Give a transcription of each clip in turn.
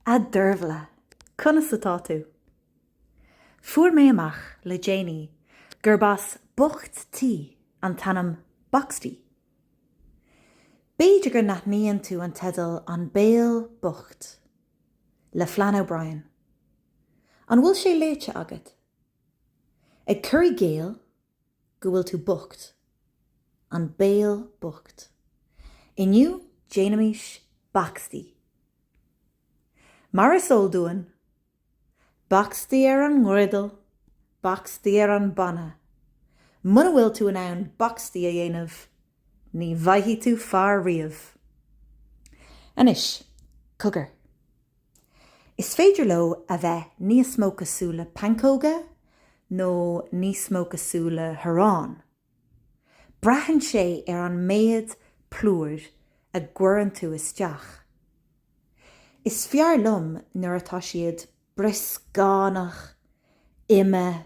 A Dervla, conas atá tú? Fuair mé amach le déanaí gurb as Bocht Tí an t-ainm Boxty. B'fhéidir go n-aithníonn tú an teideal An Béal Bocht le Flann O'Brien. An bhfuil sé léite agat? Ag cur i gcéill go bhfuil tú bocht. An béal bocht. Inniu déanaimís bacstaí. Mar is eol dúinn, bacstaí ar an ngriodal, bacstaí ar an bpanna. Muna bhfuil tú in ann bacstaí a dhéanamh, Ní bhfaighidh tú fear riamh. Anois, cogar. Is féidir leo a bheith níos mó cosúil le pancóga nó níos mó cosúil le harán. Braitheann sé ar an méad plúir a gcuireann tú isteach. Is fearr liom nuair atá siad brioscánach, ime,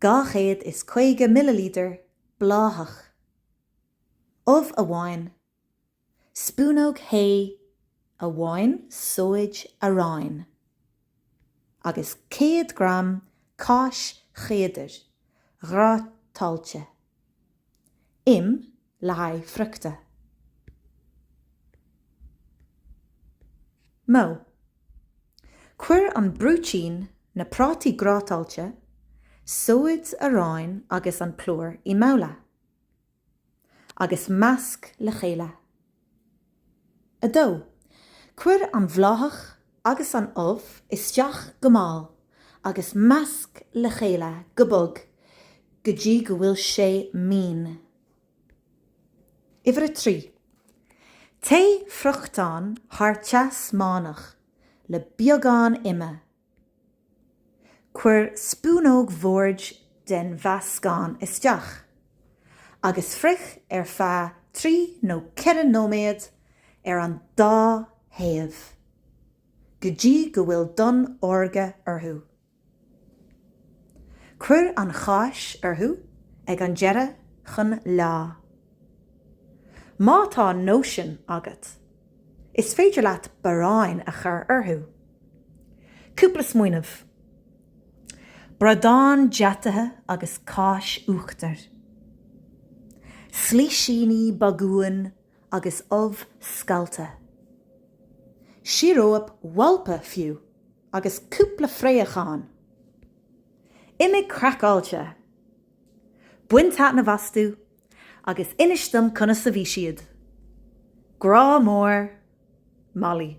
250 millilítear bláthach, ubh amháin, spúnóg thae amháin sóid aráin agus 100 gram cáis chéadair ghrátáilte. Im le haghaidh friochta. Modh, Cuir an brúitín, na prátaí grátáilte, sóid aráin agus an plúr i mbabhla agus measc le chéile. 2. Cuir an bhláthach agus an ubh isteach go mall agus measc le chéile go bog go dtí go bhfuil sé mín. Uimhir a trí. Téigh friochtán thar teas meánach le beagán ime Cuir spúnóg bhoird den mheascán isteach agus frioch ar feadh trí nó ceithre nóiméad ar an dá thaobh go dtí go bhfuil donn órga orthu. Cuir an cháis orthu ag an deireadh chun leá. Má tá nóisean agat, is féidir leat barráin a chur orthu. Cúpla smaoineamh. Bradán deataithe agus cáis uachtair. Slisíní bagúin agus ubh scallta. Síoróip mhailpe, fiú, agus cúpla fraochán. Imigh craiceáilte! Bain taitneamh astu Agus inis dom conas a bhí siad. Grá mór, Molly.